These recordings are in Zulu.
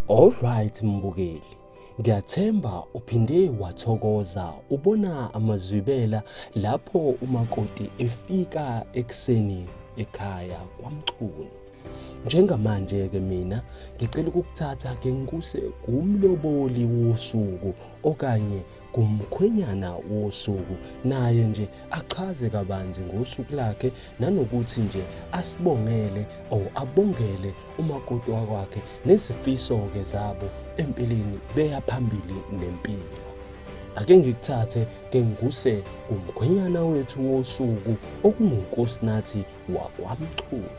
Alright mbukeli, ngiyathemba uphinde wathokoza ubona amazwibela lapho umakoti efika ekuseni ekhaya kwaMchunu. Njengamanje-ke mina ngicela ukukuthatha ke ngikuse kumloboli wosuku okanye kumkhwenyana wosuku naye nje achaze kabanzi ngosuku lakhe nanokuthi nje asibongele or abongele umakoti wakwakhe nezifiso-ke zabo empilweni beya phambili nempilo ake ngikuthathe ke ngikuse kumkhwenyana wethu wosuku okungunkosinathi wakwaMchunu.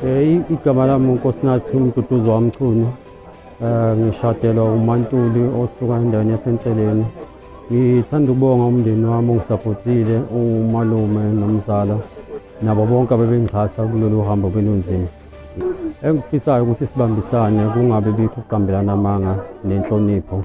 Eh, igama lami uNkosinathi uMduduzi waMchunu. Eh, ngishadelwa uMantuli osuka endaweni yasenseleni. Ngithanda ukubonga umndeni wami ongisapotile umalume nomzala nabo bonke abebengixhasa kulolu hambo belunzima. Engikufisayo ukuthi sibambisane kungabe bikho ukuqambelana amanga nenhlonipho.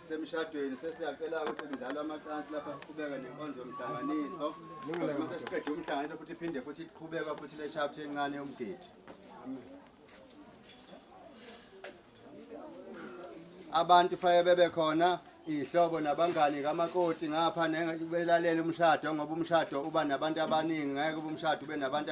semshadweni sesiyacela ukuthi mdlalo amacansi lapha siqhubeke nenkonzo yomhlanganiso uma sesiqede umhlanganiso futhi iphinde futhi iqhubeka futhi le shaft encane yomgidi abantu faye bebe khona ihlobo nabangani kamakoti ngapha belalele umshado ngoba umshado uba nabantu abaningi ngeke ube umshado ube nabantu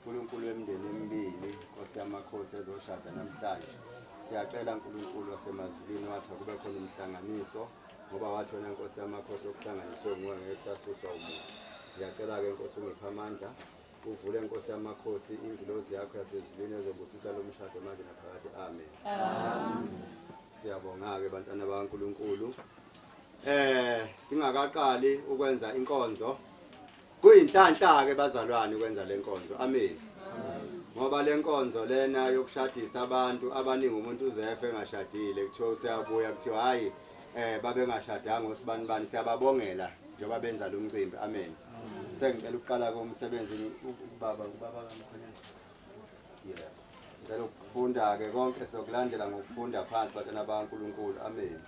Nkulunkulu wemndeni emibili, Nkosi yamakhosi ezoshada namhlanje. Siyacela Nkulunkulu wasemazulwini wathi kube khona umhlanganiso ngoba wathi wena Nkosi yamakhosi okuhlanganiswe nguwe ngeke kusasuswa umuntu. Ngiyacela-ke Nkosi ungiphe amandla uvule Nkosi yamakhosi ingilozi yakho yasezulwini ezobusisa lo mshado manje naphakade. Amen. Siyabonga-ke bantwana bakaNkulunkulu. Eh singakaqali ukwenza inkonzo Kuyinhlanhla-ke bazalwane ukwenza le nkonzo. Amen. Ngoba le nkonzo lena yokushadisa abantu abaningi umuntu uzefe engashadile kuthiwa useyabuya kuthiwa hhayi um babengashadanga osibani bani siyababongela njengoba benza lo mcimbi. Amen. Sengicela ukuqala-ke umsebenzi ubaba ubaba kamkhonyana. Yeah. Ngicela ukufunda-ke konke sokulandela ngokufunda phansi batshana baNkulunkulu. Amen.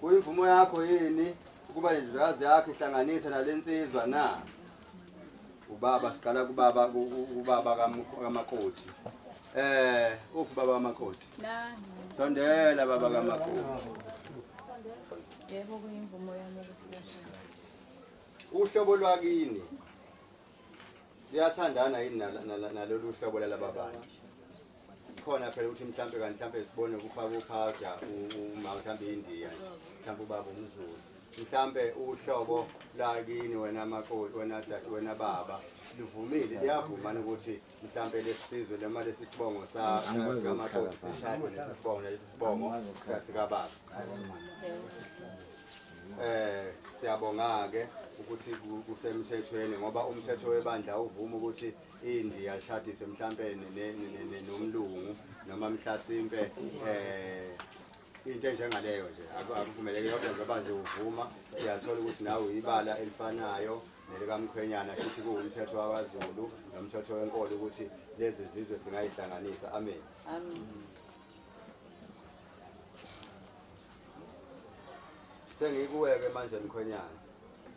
Kuyimvumo yakho yini ukuba nendodakazi yakho ihlanganise nale nsizwa na? Ubaba siqala kubaba ubaba kamakoti. Eh, uphi baba kamakoti? Nangi. Sondela baba kamakoti. Yebo kuyimvumo yami ukuthi bashade. Uhlobo lwakini liyathandana yini nalolu hlobo lalaba bantu? khona phela ukuthi mhlampe kanti mhlampe sibone ukufaka uphawuda uma mhlampe indiya mhlampe ubaba umzulu mhlampe uhlobo lakini wena makoti wena dade wena baba livumile liyavuma ukuthi mhlampe lesizwe noma lesi sibongo sakamakoti sishade lesi sibongo lesi sibongo sikababa eh siyabonga-ke ukuthi kusemthethweni ngoba umthetho webandla uvuma ukuthi inji yalishadise mhlampe nomlungu noma mhlasimpe eh into enjengaleyo nje akuvumeleki yonke ngoba nje uvuma siyathola ukuthi nawe uyibala elifanayo nelikamkhwenyana futhi kuwumthetho wakwaZulu nomthetho wenkolo ukuthi lezi zizwe singayihlanganisa amen amen Sengikuweke manje mkhwenyana.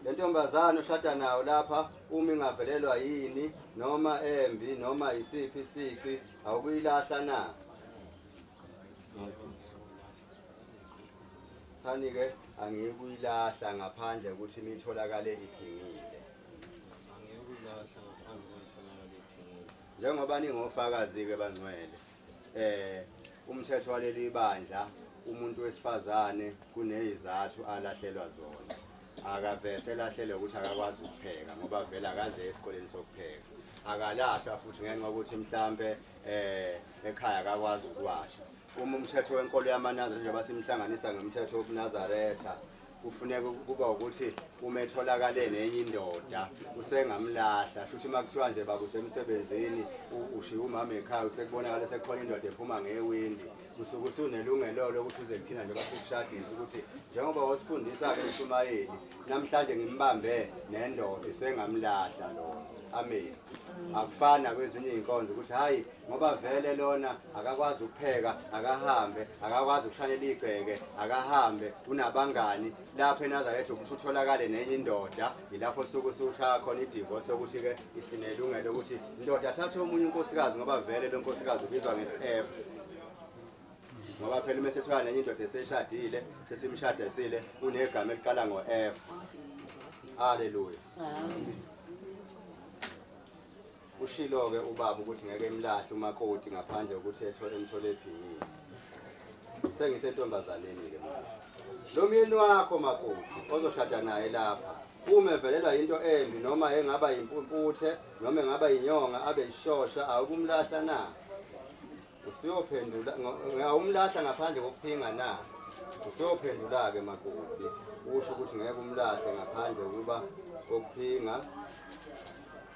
Le ntombazane oshada nayo lapha uma ingavelelwa yini noma embi noma yisiphi isici awukuyilahla na? Thani-ke angiyikuyilahla ngaphandle ukuthi nitholakale iphingile. Njengoba ningofakazi-ke bangcwele, eh umthetho waleli bandla umuntu wesifazane kunezizathu alahlelwa zona akavese lahlele ukuthi akakwazi ukupheka ngoba vele akaze esikoleni sokupheka akalahlwa futhi ngenxa yokuthi mhlambe eh ekhaya akakwazi ukuwasha uma umthetho wenkolo yamanazareth njengoba simhlanganisa ngomthetho wobunazaretha kufuneka ukuba ukuthi uma etholakale nenye indoda usengamlahla shuthi uma kuthiwa nje baba usemsebenzini ushiye umama ekhaya usekubonakala sekukhona indoda ephuma ngewindi usuke usunelungelo lokuthi uze kuthina nje basekushadisa ukuthi njengoba wasifundisa-ke umshumayeli namhlanje ngimbambe nendoda usengamlahla lona ameni akufani nakwezinye iy'nkonzo ukuthi hhayi ngoba vele lona akakwazi ukupheka akahambe akakwazi ukushanela igceke akahambe unabangani lapho enazaretha ukuthi utholakale nenye indoda yilapho suku siwushaya khona idivosi ukuthi-ke isinelungelo ukuthi indoda athathe omunye unkosikazi ngoba vele lo nkosikazi ubizwa nge-sf ngoba phela uma sethola nenye indoda eseshadile sesimshadesile unegama eliqala ngo-f aleluya Ushilo-ke ubaba ukuthi ngeke emlahle umakoti ngaphandle kokuthi ethole emthole ebhingile. Sengisentombazaneni-ke manje. Lo myeni wakho makoti ozoshada naye lapha uma evelelwa yinto embi noma engaba yimpumputhe noma engaba yinyonga abe yishosha awukumlahla na? Usiyophendula ngawumlahla ngaphandle kokuphinga na? Usiyophendula-ke makoti. Usho ukuthi ngeke umlahle ngaphandle ukuba kokuphinga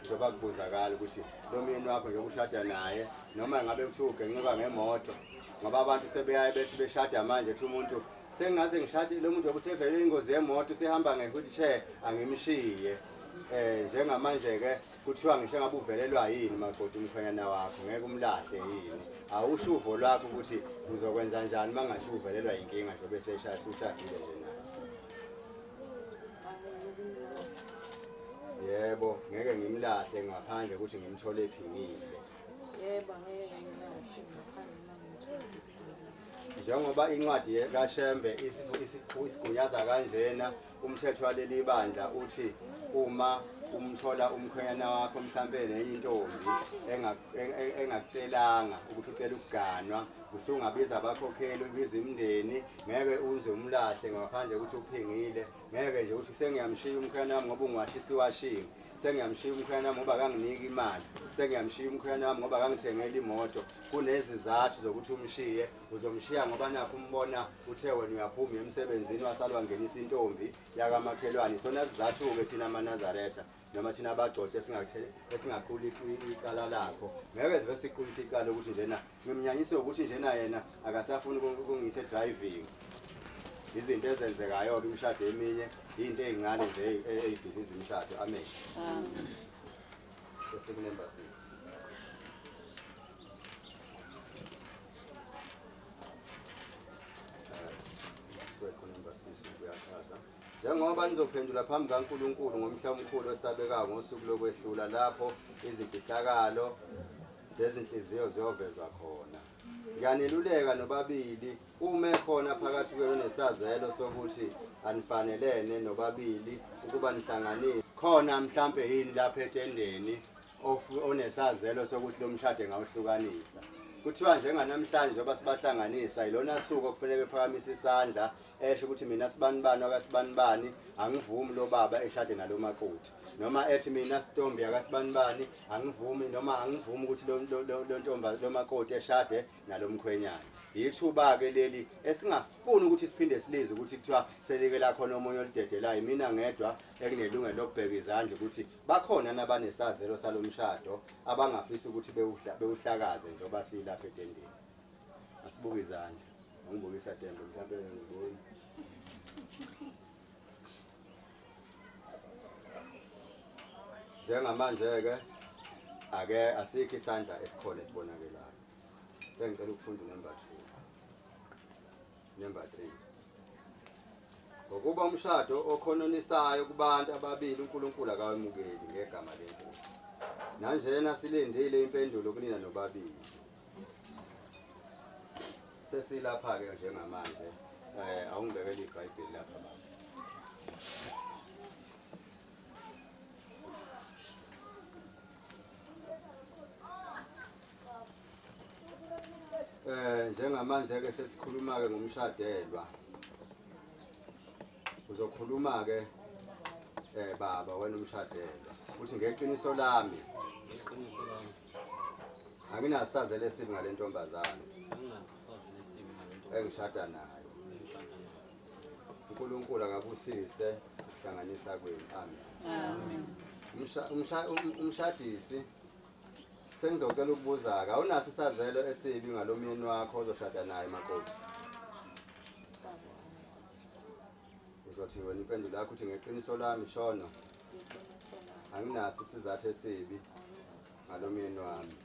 njengoba kubuzakala ukuthi lo myeni wakho njengoba ushada naye noma ngabe kuthiwa ugencuka ngemoto ngoba abantu sebeyaye bethi beshada manje kuthi umuntu sengaze ngishade lo muntu yobe usevele ingozi yemoto usehamba nge-wheelchair angimshiye um njengamanje-ke kuthiwa ngisho ngabe uvelelwa yini makoti umkhwenyana wakho ngeke umlahle yini awusho uvo lwakho ukuthi uzokwenza njani uma ngasho uvelelwa yinkinga nje bese eshaya ushadile nje naye yebo ngeke ngimlahle ngaphandle ukuthi ngimthole ephingile yebo ngeke ngimlahle ngaphandle njengoba incwadi kaShembe isigunyaza kanjena Umthetho waleli bandla uthi uma umthola umkhwenyana wakho mhlampe nenye intombi engakutshelanga ukuthi ucela ukuganwa usungabiza abakhokheli ubiza imindeni ngeke uze umlahle ngaphandle ukuthi uphingile ngeke nje ukuthi sengiyamshiya umkhwenyana wami ngoba ungwashisiwashini sengiyamshiya umkhwenyana wami ngoba kanginiki imali sengiyamshiya umkhwenyana wami ngoba kangithengela imoto kunezizathu zokuthi umshiye uzomshiya ngoba nakho umbona uthe wena uyaphuma emsebenzini wasalwa ngenisa intombi yakamakhelwane isona sizathu-ke thina amanazaretha noma thina abagcode esingaquli icala lakho ngeke zibe siqulise icala ukuthi njena ngimnyanyise ukuthi njena yena akasafuni ukungiyisa edriving izinto ezenzekayo-ke imishado eminye yinto ey'ncane nje ey'bhiziza imishado amen bese kunemba six njengoba nizophendula phambi kaNkulunkulu ngomhla omkhulu osabekayo ngosuku lokwehlula lapho izimfihlakalo zezinhliziyo ziyovezwa khona ngiyaneluleka nobabili uma ekhona phakathi kwenu nesazelo sokuthi anifanelene nobabili ukuba nihlanganile khona mhlampe yini lapha etendeni onesazelo sokuthi lo mshado engawuhlukanisa kuthiwa njenganamhlanje njengoba sibahlanganisa yilona suku okufuneka ephakamise isandla esho ukuthi mina sibanibani akasibanibani angivumi lo baba eshade nalo maquthi noma ethi mina sitombi akasibanibani angivumi noma angivumi ukuthi lo ntomba lo makoti eshade nalo mkhwenyana yithuba-ke leli esingafuni ukuthi siphinde silize ukuthi kuthiwa selike lakhona omunye olidedelayo mina ngedwa ekunelungelo lokubheka izandla ukuthi Bakhona nabanesazelo salomshado abangafisa ukuthi bewuhlakaze njengoba silapha etendeni. Asibuke izandla. Ngibukisa tembe mhlawumbe ngiboni. Njengamanje-ke ake asikho isandla esikhona esibonakelayo. Sengicela ukufunda number 2. Number 3. Ngokuba umshado okhononisayo kubantu ababili uNkulunkulu akawemukeli ngegama lenkosi. Nanjena silindile impendulo kunina nobabili. Sesilapha ke njengamanje. Eh awungibekele iBhayibheli lapha baba. Eh njengamanje ke sesikhuluma ke ngomshadelwa. Uzokhuluma ke eh baba wena umshadelwa. Uthi ngeqiniso lami. Ngeqiniso lami. Anginasazele sibi ngalentombazane. Anginasazele sibi ngalentombazane. Engishada nayo. Engishada nayo. uNkulunkulu akabusise ukuhlanganisa kwenu amen amen umshadisi Sengizocela ukubuza-ke awunaso isazelo esibi ngalo myeni wakho ozoshada naye makoti? Uzothi wena impendulo yakho uthi ngeqiniso lami shono Iqiniso lami. anginaso isizathu esibi Anginaso ngalo myeni wami.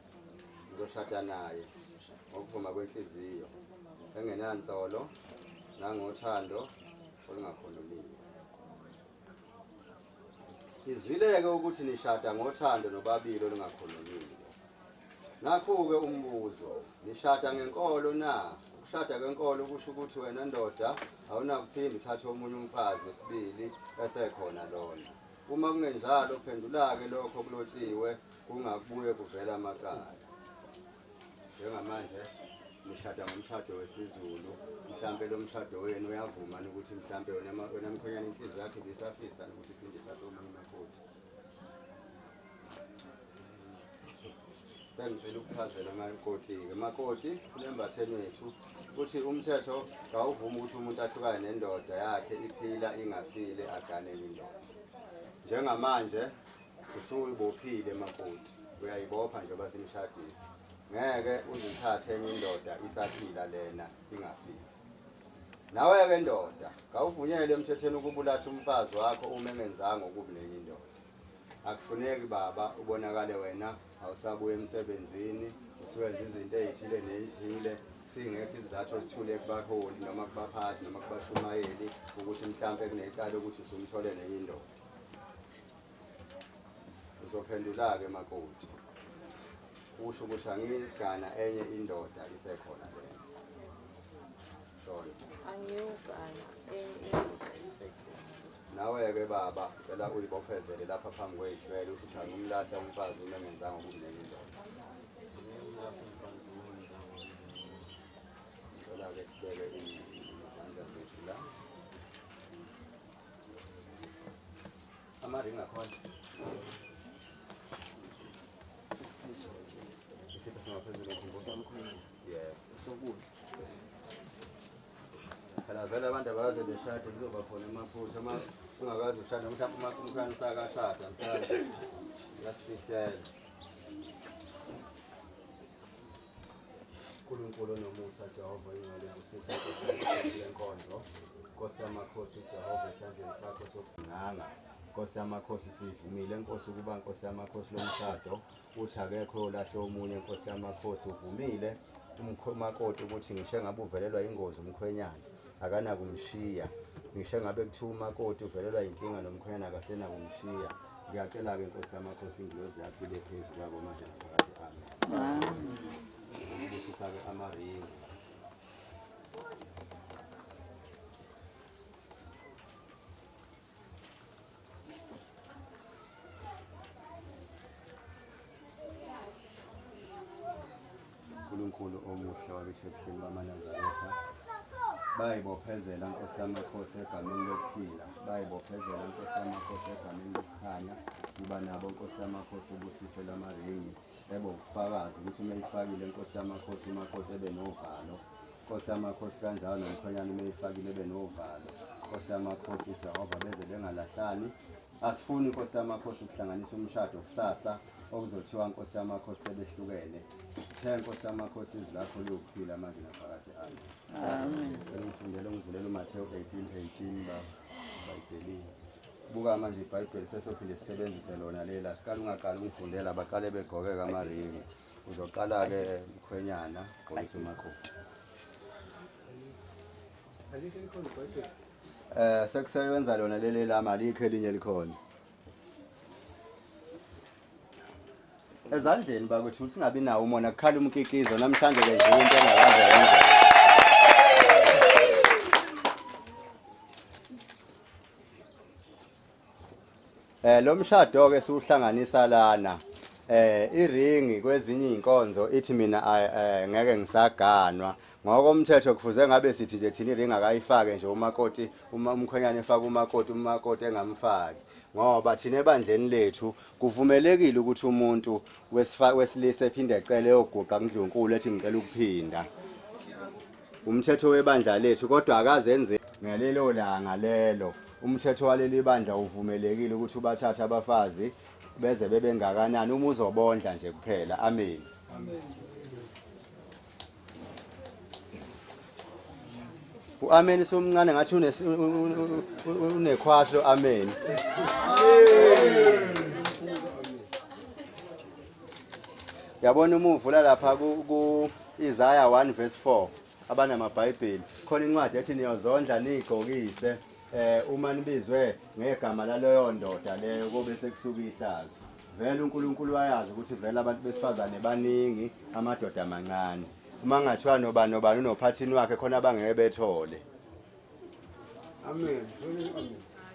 Ngizoshada naye Ngizoshada ngokuvuma kwenhliziyo ukuma kwenhliziyo. engenansolo nangothando olungakhululiwe. Sizwileke ukuthi nishada ngothando nobabili olungakhulumile. Nakhu-ke umbuzo, nishada ngenkolo na? Ukushada kwenkolo kusho ukuthi wena ndoda awunakuphinde uthathe omunye umfazi wesibili esekhona lona. Uma kungenjalo, phendula-ke lokho okulotshiwe kungakubuye kuvela amacala. njengamanje nishada ngomshado wesizulu mhlampe lo mshado wenu uyavuma ukuthi mhlampe wena mkhonyana inhliziyo yakhe bisafisa ukuthi phinde thathe omunye umakoti sengicela ukuchazela amakoti-ke makoti kulembatheni wethu ukuthi umthetho kawuvumi ukuthi umuntu ahlukane nendoda yakhe iphila ingafile aganele indoda njengamanje Usuyibophile makoti, uyayibopha nje basimshadisi. Ngeke uzithathe enye indoda isaphila lena ingafiki. Nawe-ke ndoda, kawuvunyelwe emthethweni ukuba ulahle umfazi wakho uma engenzanga okubi nenye indoda. Akufuneki baba ubonakale wena awusabuye emsebenzini, usuwenza izinto ey'thile ney'thile singekho isizathu esithule kubaholi noma kubaphathi noma kubashumayeli ukuthi mhlawumpe kunecala ukuthi usumthole nenye indoda Uzophendula-ke makoti. Usho ukuthi angigana enye indoda isekhona le. Shona. Angiyogana enye indoda isekhona. Nawe-ke baba cela uyibophezele lapha phambi kwey'hlwele usho ukuthi angimlahla umfazi uma engenzanga ukumnenye indoda. Ngicela-ke sibeke izandla zethu la. Amaringi akhona. Isipho singaphezulu ngemfundo. Yeah. Sokudla. Phela vele abantu abaze beshade kuzoba khona amaphutha uma ungakazi ushada mhlawumbe uma umkhana usakashada mhlawumbe uyasifihlela. Nkulunkulu onomusa Jehova ingcwele busisa lenkonzo Nkosi yamakhosi uJehova esandleni sakho sokunganga Nkosi yamakhosi sivumile Nkosi ukuba Nkosi yamakhosi lomshado uthi akekho olahle omunye Nkosi yamakhosi uvumile umkhomakoti ukuthi ngisho engabe uvelelwa ingozi umkhwenyana akanakumshiya ngisho ngabe kuthiwa umakoti uvelelwa yinkinga nomkhwenyana akasenakumshiya ngiyacela-ke nkosi yamakhosi ingilozi yakho ibe phezu kwabo manje naphakade ami ngishisa-ke amaringi uNkulunkulu omuhle wabisho ebuhleni bamaNazaretha bayibophezela nkosi yamakhosi egameni lokuphila bayibophezela nkosi yamakhosi egameni lokukhanya kuba nabo nkosi yamakhosi ubusise lwamaringi ebe ubufakazi ukuthi uma ifakile nkosi yamakhosi umakoti ebe novalo Nkosi yamakhosi kanjalo nomkhwenyana uma eyifakile ebe novalo Nkosi yamakhosi uJehova beze bengalahlani asifuni Nkosi yamakhosi ukuhlanganisa umshado kusasa okuzothiwa Nkosi yamakhosi sebehlukene the Nkosi yamakhosi izwi lakho liwukuphila manje naphakade ami amen sengifundela ungivulela uMathewu 18:18 ba bayibhelini buka manje ibhayibheli sesophinde sisebenzise lona lela siqala ungaqali ungifundela baqale begqokeka amaringi uzoqala-ke mkhwenyana xolisa umakoti eh sekusebenza lona leli lami alikho elinye likhona ezandleni bakwethu ukuthi singabi nawo umona kukhala umkikizo namhlanje ke nje into engakaze yenze Eh lo mshado ke siwuhlanganisa lana eh iringi kwezinye izinkonzo ithi mina eh, ngeke ngisaganwa ngokomthetho kufuze ngabe sithi nje thina iringi akayifake nje umakoti uma umkhonyane efaka umakoti umakoti engamfaki ngoba thina ebandleni lethu kuvumelekile ukuthi umuntu wesilisa ephinde ecele yoguqa kundlunkulu ethi ngicela ukuphinda Umthetho webandla lethu kodwa akazenze ngalelo langa lelo. Umthetho waleli bandla uvumelekile ukuthi ubathathe abafazi beze bebengakanani uma uzobondla nje kuphela. Amen. Amen. uameni somncane ngathi unekhwahlo ameni yabona uma uvula lapha ku-isaya 1 verse 4 abanamabhayibheli khona incwadi ethi niyozondla niyigqokise eh uma nibizwe ngegama laleyo ndoda leyo kobe sekusuka ihlazo vele uNkulunkulu wayazi ukuthi vele abantu besifazane baningi amadoda amancane uma ngathiwa nobani nobani unophathini wakhe khona abangeke bethole Amen. Amen.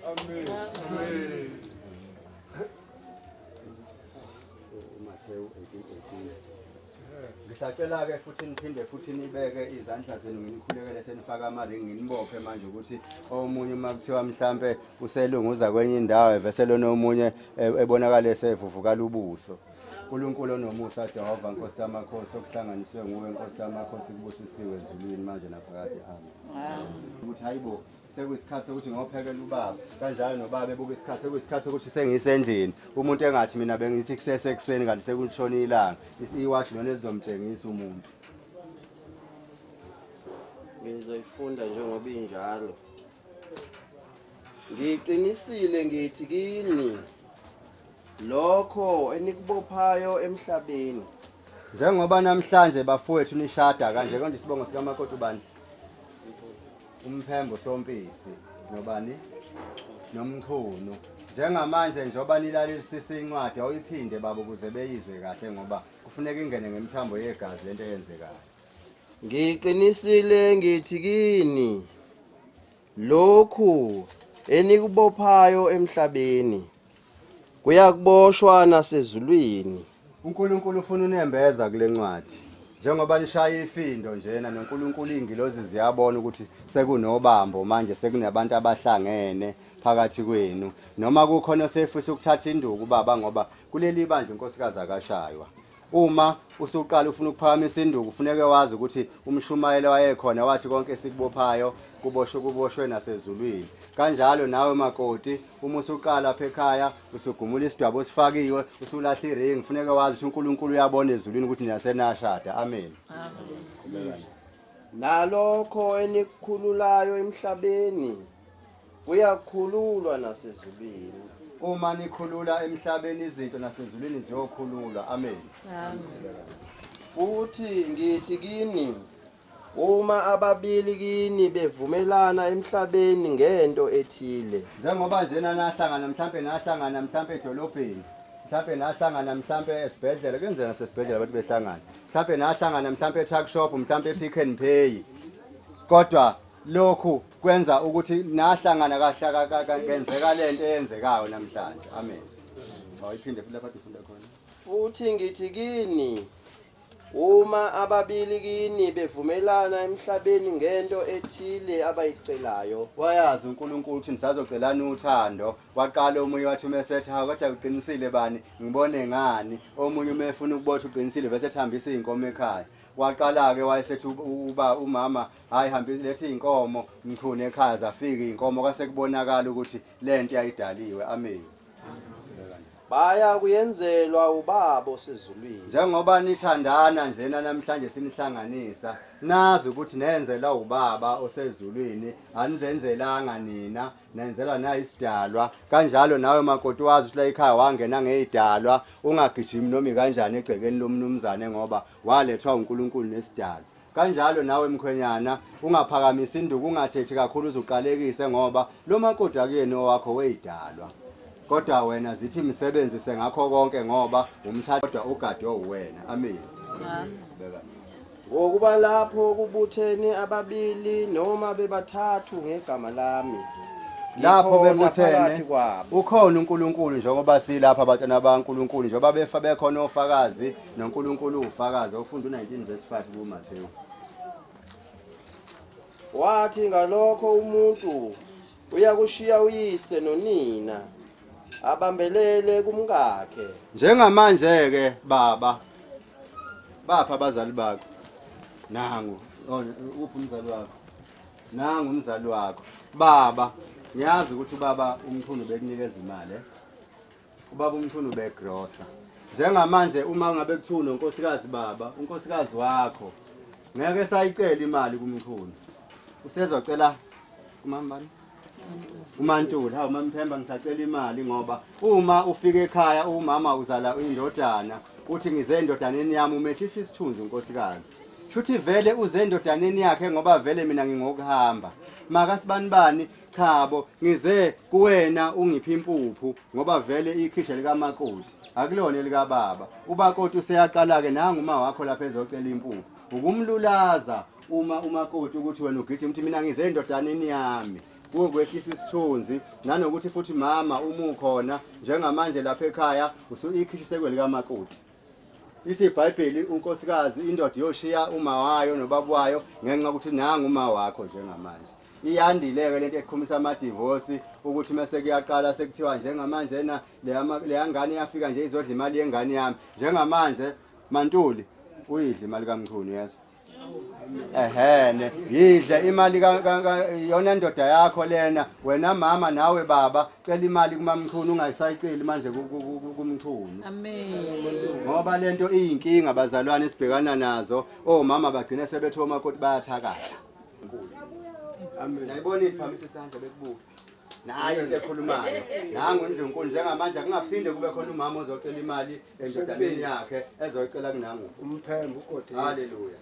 Amen. Amen. Matthew 18:18. Ngisacela ke futhi niphinde futhi nibeke izandla zenu nginikhulekele senifaka amaringi nginibophe manje ukuthi omunye uma kuthiwa mhlambe uselunguza kwenye indawo evese lona omunye e- ebonakala esevuvukala ubuso. Nkulunkulu onomusa Jehova Nkosi yamakhosi okuhlanganiswe nguwe Nkosi yamakhosi kubusisiwe ezulwini manje naphakade amen ukuthi hayibo sekuyisikhathi sokuthi ngophekela ubaba kanjalo nobaba ebuka isikhathi sekuyisikhathi sokuthi sengisendlini umuntu engathi mina bengithi kusese ekuseni kanti sekulishona ilanga iwashi lona elizomtshengisa umuntu ngizoyifunda njengoba injalo ngiqinisile ngithi kini lokho enikubophayo emhlabeni njengoba namhlanje bafowethu nishada kanje konje isibongo sikamakoti ubani umphembo sompisi nobani nomchunu njengamanje njengoba nilalelisisa incwadi awuyiphinde baba ukuze beyizwe kahle ngoba kufuneka ingene ngemthambo yegazi lento eyenzekayo ngiqinisile ngithi kini Lokhu enikubophayo emhlabeni kuyakuboshwa nasezulwini. UNkulunkulu ufuna unembeza kule ncwadi njengoba nishaya ifindo njena noNkulunkulu iy'ngilozi ziyabona ukuthi sekunobambo manje sekunabantu abahlangene phakathi kwenu noma kukhona osefisa ukuthatha induku baba ngoba kuleli bandla unkosikazi akashaywa Uma usuqala ufuna ukuphakamisa induku kufuneka wazi ukuthi umshumayeli wayekhona wathi konke esikubophayo kuboshwe kuboshwe nasezulwini. Kanjalo nawe makoti uma usuqala apha ekhaya usugumula isidwabo osifakiwe usulahla iring kufuneka wazi ukuthi uNkulunkulu uyabona ezulwini ukuthi nina senashada. Amen. Amen. Nalokho enikhululayo emhlabeni Kuyakhululwa nasezulwini. Uma nikhulula emhlabeni izinto nasezulwini ziyokhululwa. Amen. Amen. Futhi ngithi kini uma ababili kini bevumelana emhlabeni ngento ethile njengoba njena nahlangana mhlampe nahlangana mhlampe edolobheni mhlampe nahlangana mhlampe esibhedlela kuyenzeka sesibhedlela abantu behlangana mhlampe nahlangana mhlampe e-truck shop mhlampe e-pick and pay kodwa lokhu kwenza ukuthi nahlangana kahlakenzeka le nto eyenzekayo namhlanje amen awayiphinde futhi lapha difunda khona futhi ngithi kini uma ababili kini bevumelana emhlabeni ngento ethile abayicelayo wayazi uNkulunkulu ukuthi nisazocelana uthando waqala omunye wathi uma esethi ha kodwa uqinisile bani ngibone ngani omunye uma efuna ukubotha uqinisile bese ethambisa izinkomo ekhaya waqala-ke wayesethi uba umama hayi hambe lethi inkomo mchune ekhaza afike inkomo kase kubonakala ukuthi lento yayidaliwe amen baya kuyenzelwa ubabo sezulwini njengoba nithandana njena namhlanje sinihlanganisa nazi ukuthi nenzela ubaba osezulwini anizenzelanga nina nenzelwa nayi isidalwa kanjalo nawe makoti wazi ukuthi la ekhaya wangena ngeyidalwa ungagijimi noma kanjani egcekeni lomnumzane ngoba walethwa uNkulunkulu nesidalwa Kanjalo nawe mkhwenyana ungaphakamisa induku ungathethi kakhulu uzuqalekise ngoba lo makoti akuyena owakho weyidalwa. Kodwa wena zithi msebenzise ngakho konke ngoba umthatha kodwa ugadwe uwena. Amen. Beka. Ngokuba lapho kubuthene ababili noma bebathathu ngegama lami. Lapho ngikhona bebuthene phakathi kwabo. ukhona uNkulunkulu njengoba silapha abatshana baNkulunkulu njengoba befa bekhona ofakazi noNkulunkulu ufakaza ufunda u-19 verse 5 kuMathewu wathi ngalokho umuntu uyakushiya uyise nonina abambelele kumkakhe njengamanje-ke baba bapha abazali bakho nangu oh, uphi umzali wakho nangu umzali wakho baba ngiyazi ukuthi ubaba umkhulu bekunikeza imali eh? Ubaba uMchunu ubegrosa. Njengamanje uma ngabe kuthiwa unonkosikazi baba, unkosikazi wakho ngeke esayicela imali kuMchunu. Usezocela kumambani? uMantuli hawu mamthemba ngisacela imali ngoba uma ufika ekhaya umama uzala indodana uthi ngize endodaneni yami umehlisa isithunzi unkosikazi shuthi vele uze endodaneni yakhe ngoba vele mina ngingokuhamba makasibanibani Chabo, ngize kuwena ungiphi impuphu ngoba vele ikhisha likamakoti akulona elikababa. Ubakoti useyaqala-ke nangu uma wakho lapha ezocela impuphu. Ukumlulaza uma umakoti ukuthi wena ugijima ukuthi mina ngize endodaneni yami kukwehlisa isithunzi nanokuthi futhi mama uma ukhona njengamanje lapha ekhaya usuikhishi sekwelikamakoti ithi ibhayibheli unkosikazi indoda yoshiya uma wayo nobaba wayo ngenxa ukuthi nangu uma wakho njengamanje iyandile-ke lento eqhumisa amadivosi ukuthi mese kuyaqala sekuthiwa njengamanje na leyangane iyafika nje izodla imali yengane yami njengamanje mantuli uyidla imali kamchunu yezwa ehene yidle imali yona ndoda yakho lena wena mama nawe baba cela imali kumamchunu ungayisayiceli manje kumchunu ngoba lento iyinkinga bazalwane sibhekana nazo omama bagcine sebethiwa omakoti bayathakatha Amen. Nayibona iphakamisa isandla bekubuka. Naye into ekhulumayo. Nangu uNdlunkulu njengamanje akungaphinde kube khona umama ozocela imali endodaneni yakhe ezoyicela kunangu. Umphembe ugodini. Haleluya.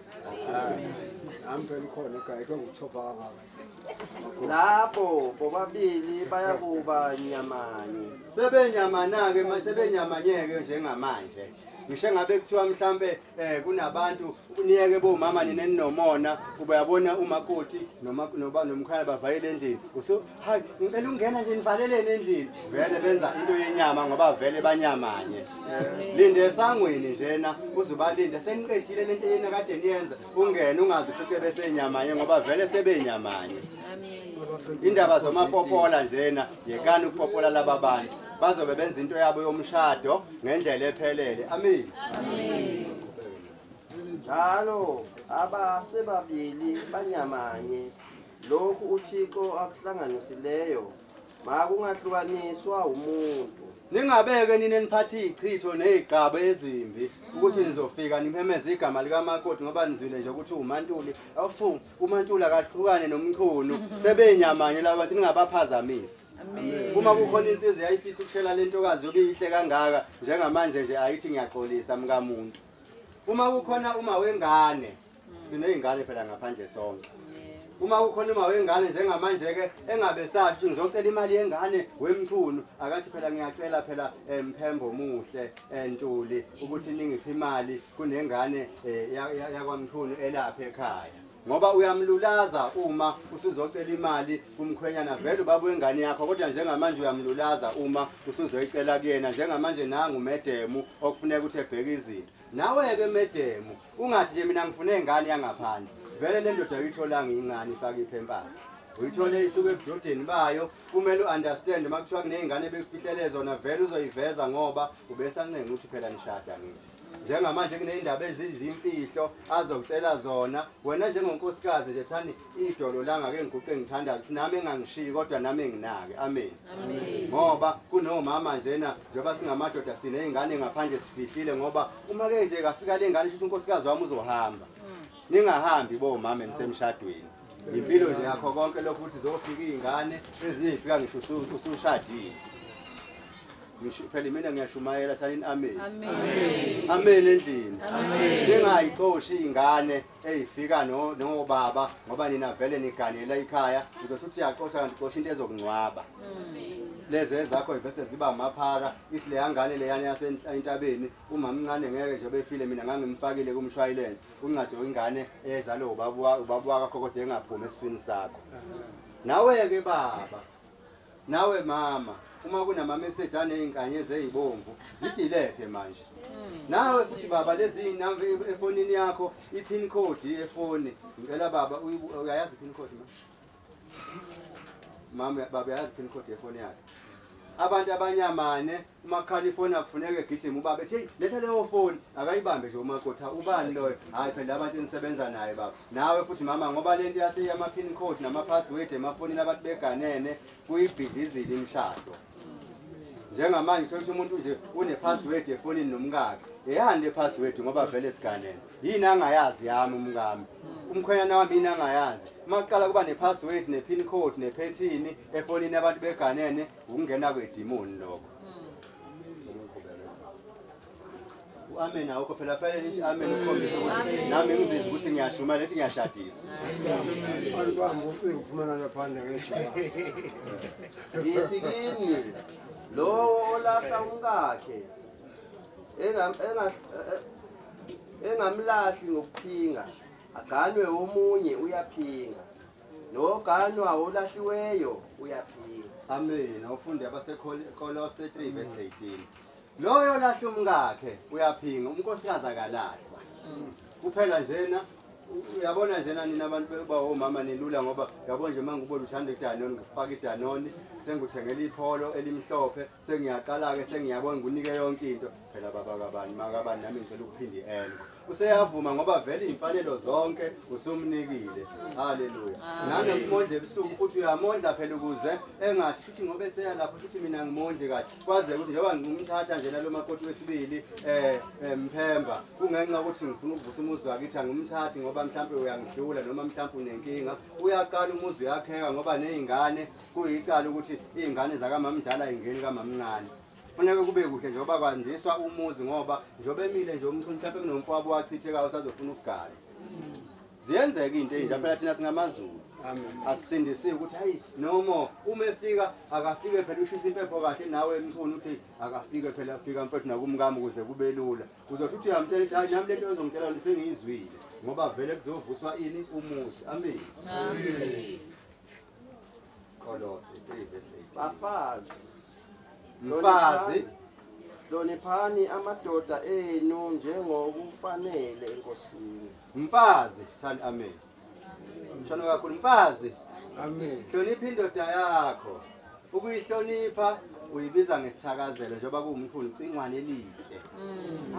Nami phela ukhona ekhaya ke nguthoba kangaka. Lapho bobabili bayakuba nyamanye. Sebenyamana-ke ma- sebenyamanyeke njengamanje. Ngisho ngabe kuthiwa mhlampe eh kunabantu niyeke bomama nina ninomona kuba yabona umakoti noma noba nomkhaya bavayele endlini uso hayi ngicela ungena nje nivalelene endlini vele benza into yenyama ngoba vele banyamanye linde esangweni njena uzubalinde seniqedile lento yena kade niyenza ungene ungazi futhi besenyamanye ngoba vele sebenyamanye indaba zomapopola njena yekani ukupopola laba bantu bazobe benza into yabo yomshado ngendlela ephelele amen njalo abasebabili banyamanye lokhu uthixo akuhlanganisileyo makungahlukaniswa umuntu ningabeke nini eniphathe izichitho nezigqaba ezimbi ukuthi nizofika nimemeza igama likamakoti ngoba nizwile nje ukuthi umantuli awufungi umantuli akahlukane nomchunu sebenyamanye labantu ningabaphazamisi uma kukhona insizwa eyayifisa ukushela le ntokazi yobe iyihle kangaka njengamanje nje ayithi ngiyaxolisa mkamuntu uma kukhona uma wengane siney'ngane phela ngaphandle sonke uma kukhona uma wengane njengamanje-ke engabe sathi ukuthi ngizocela imali yengane wemchunu akathi phela ngiyacela phela um mphembo omuhle um ntuli ukuthi ningiphi imali kunengane um yakwamchunu elapha ekhaya ngoba uyamlulaza uma usuzocela imali kumkhwenyana vele ubaba wengane yakho kodwa njengamanje uyamlulaza uma usuzoyicela kuyena njengamanje nangu medemu okufuneka ukuthi ebheke izinto nawe-ke medemu ungathi nje mina ngifune ingane yangaphandle vele le ndoda uyitholanga ingane ifake iphempasi uyithole isuke ebudodeni bayo kumele u-understand uma kuthiwa kuney'ngane bekufihlele zona vele uzoyiveza ngoba ubesancenga ukuthi phela nishada ngithi njengamanje kuney'ndaba ezizimfihlo azokutshela zona wena njengonkosikazi nje thani idolo langa ke ngiguqe ngithandaza ukuthi nami engangishiyi kodwa nami enginake amen ngoba kunomama njena njengoba singamadoda siney'ngane ngaphandle sifihlile ngoba uma ke nje kafika le ngane shuthi unkosikazi wami uzohamba hmm. ningahambi bomama enisemshadweni impilo nje yakho konke lokhu ukuthi zofika iy'ngane ezinye yifika ngisho usushadile Ngisho phela mina ngiyashumayela thanini amen. Amen. Amen endlini. Amen. Ningayixoshi ingane eyifika no nobaba ngoba nina vele niganela ikhaya uzothi uthi yaxosha kanti xosha into ezokungcwaba. Lezi ezakho ivese ziba amaphara ihle yangane leyana yasentabeni umamncane ngeke nje befile mina ngangimfakile kumshwayilense uncathi ingane ezalo ubaba ubaba wakho kodwa engaphumi esiswini sakho. Nawe ke baba Nawe mama uma kunama message anezinkanyezi ezibomvu zidelete manje. Nawe futhi baba lezi inamba efonini yakho ipin code yefoni ngicela baba uyayazi pin code mama. Mama baba yazi pin code yefoni yakhe. Abantu abanyamane umakhala ifoni akufuneka egijima ubaba ethi heyi letha leyo foni akayibambe nje umakotha ubani loyo hhayi phela abantu enisebenza naye baba nawe futhi mama ngoba le nto yaseyama-pin code nama-password emafonini abantu beganene kuyibhidlizile imishado njengamanje thola ukuthi umuntu nje une-password efonini nomkakhe eyani le password ngoba vele siganene yini angayazi yami umkami umkhwenyana wami yini angayazi uma kuqala kuba ne-password ne-pin code nephethini efonini abantu beganene Ukungena kwedimoni lokho. amen awukho phela fanele nithi amen ukhombise ukuthi nami ngizizwa ukuthi ngiyashuma lethi ngiyashadisa abantu bami ucingo ufumana laphandle ngeshaya ngithi kini lowo olahla umkakhe engamlahli ngokuphinga aganwe omunye uyaphinga Noganwa olahliweyo uyaphila. Amen. Awufunde abaseKolose 3 verse 18. Loyo olahla umkakhe uyaphinga, umnkosikazi akalahlwa. Kuphela njena uyabona njena nina abantu bekuba omama nilula ngoba uyabona nje uma ngikubona uthanda idanoni ngifaka idanoni sengikuthengela ipholo elimhlophe sengiyaqala-ke sengiyabona ngikunike yonke into phela baba kabani makabani nami ngicela ukuphinda i-enko useyavuma ngoba vele iy'mfanelo zonke usumnikile haleluya nanokumondla ebusuku futhi uyamondla phela ukuze engathi futhi ngoba eseya lapho futhi mina ngimondli kahle kwaze ukuthi njengoba ngimthatha nje nalo makoti wesibili um mphemba kungenxa yokuthi ngifuna ukuvusa umuzi wakithi angimthathi ngoba mhlawumpe uyangidlula noma mhlawumpe unenkinga uyaqala umuzi uyakheka ngoba ney'ngane Kuyicala ukuthi iy'ngane zakamamdala ingeni kamamncane funeka kube kuhle njengoba kwandiswa umuzi ngoba njengoba emile nje umntu mhlawumpe kunomfwabo wachithekayo usazofuna ukugala ziyenzeka into eyinja phela thina singamazulu asisindisiwe ukuthi hayi nomo uma efika akafike phela ushisa impepho kahle nawe emchuni uthi akafike phela afika mfethu nakumkami ukuze kube lula uzothi uthi uyamtshela ukuthi hayi nami lento ezongitshela lona sengiyizwile ngoba vele kuzovuswa ini umuzi amini Kolose 3 verse 18. Bafazi, Mfazi, hloniphani amadoda enu njengokufanele eNkosini. mfazi, shani amen. Shano kakhulu mfazi, Amen. hlonipha indoda yakho. Ukuyihlonipha uyibiza ngesithakazelo njengoba kuwumkhulu cingwane elihle.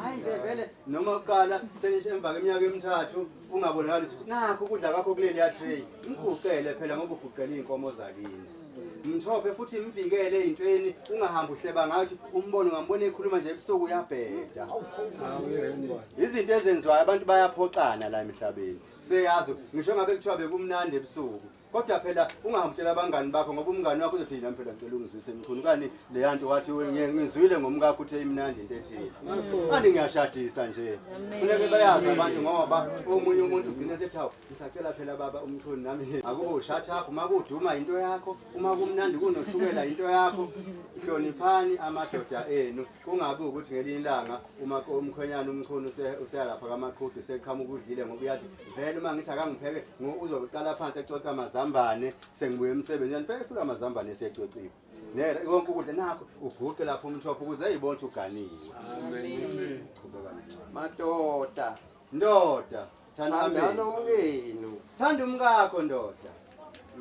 Hayi nje vele noma uqala senisho emva kweminyaka emithathu kungabonakali ukuthi nakho ukudla kwakho kuleliya tray mguqele phela ngoba uguqela iy'nkomo zakini mthophe futhi mvikele ey'ntweni ungahambi uhleba ngathi umbone ungambona ekhuluma nje ebusuku uyabheda izinto ezenziwayo abantu bayaphoxana la emhlabeni seyazi ngisho ngabe kuthiwa bekumnandi ebusuku kodwa phela ungahamtshela abangani bakho ngoba umngani wakho uzothi yini phela ngicela ungizwise mchunu kani leya nto wathi ngizwile ngomkakho uthe imnandi into ethile kani ngiyashadisa nje funeke bayazi abantu ngoba omunye umuntu ugcine sethi hawu ngisacela phela baba umchunu nami akubo ushathaphu uma kuduma into yakho uma kumnandi kunoshukela into yakho hloniphani amadoda enu kungabi ukuthi ngelinye ilanga uma umkhwenyana umchunu useyalapha kamaqhudu seqhamuka udlile ngoba uyathi vele uma ngithi akangipheke uzoqala phansi ecotha amazambane sengibuye emsebenzini phela efika amazambane esecociwe nera konke ukudla nakho uguqe lapho umthopho ukuze eyibona ukuthi uganiwe madoda Ndoda, thandana umkenu. Thanda umkakho ndoda.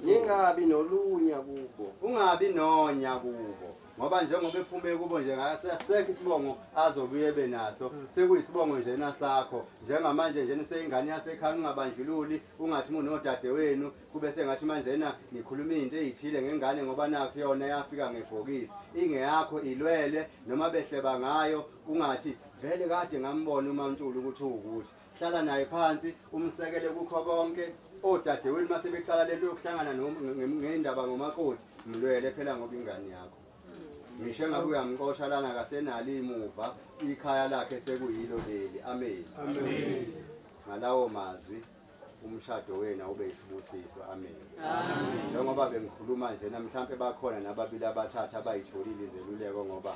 Ningabi nolunya kubo. Ungabi nonya kubo. Ngoba njengoba ephume kubo nje ngakasesekho isibongo azobuye ebe naso hmm. sekuyisibongo nje nasakho njengamanje nje useyingane yasekhaya ungabandlululi ungathi umuntu nodade wenu kube sengathi manje na nikhuluma into ezithile ngengane ngoba nakho yona yafika ngebhokisi ingeyakho ilwele noma behleba ngayo ungathi vele kade ngambona uMaNtuli ukuthi uwukuthi hlala naye phansi umsekele kukho konke odadewenu uma sebeqala le nto yokuhlangana ngey'ndaba ngomakoti mlwele phela ngoba ingane yakho ngisho engabe uyamqosha lana kasenalo imuva ikhaya lakhe sekuyilo leli ameni ngalawo mazwi umshado wena ube isibusiso amen njengoba bengikhuluma nje namhlawumbe bakhona nababili abathathu abayitholile izeluleko ngoba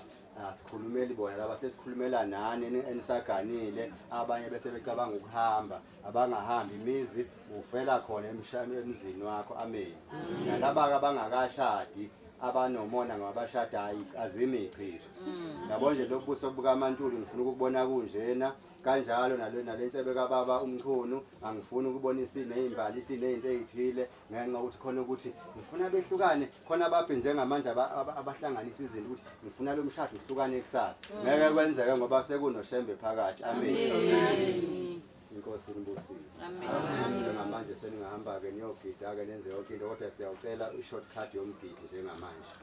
asikhulumeli bona laba sesikhulumela nani enisaganile abanye bese becabanga ukuhamba abangahambi imizi ufela khona emzini wakho ameni nalaba-ke abangakashadi abanomona ngabashadayo azimi ichishi mm. yabo nje lobu buso bukamantuli ngifuna ukubona kunjena kanjalo nale nale nsebe kababa umchunu angifuni ukubona isine izimbali isine izinto ezithile ngenxa ukuthi khona ukuthi ngifuna behlukane khona babhe njengamanje abahlanganisa izinto ukuthi ngifuna lo mshado uhlukane kusasa mm. ngeke kwenzeke ngoba sekunoshembe phakathi amen inkosi inibusise njengamanje seningahamba-ke niyogida-ke nenze yonke into kodwa siyawucela i-short card yomgidi njengamanje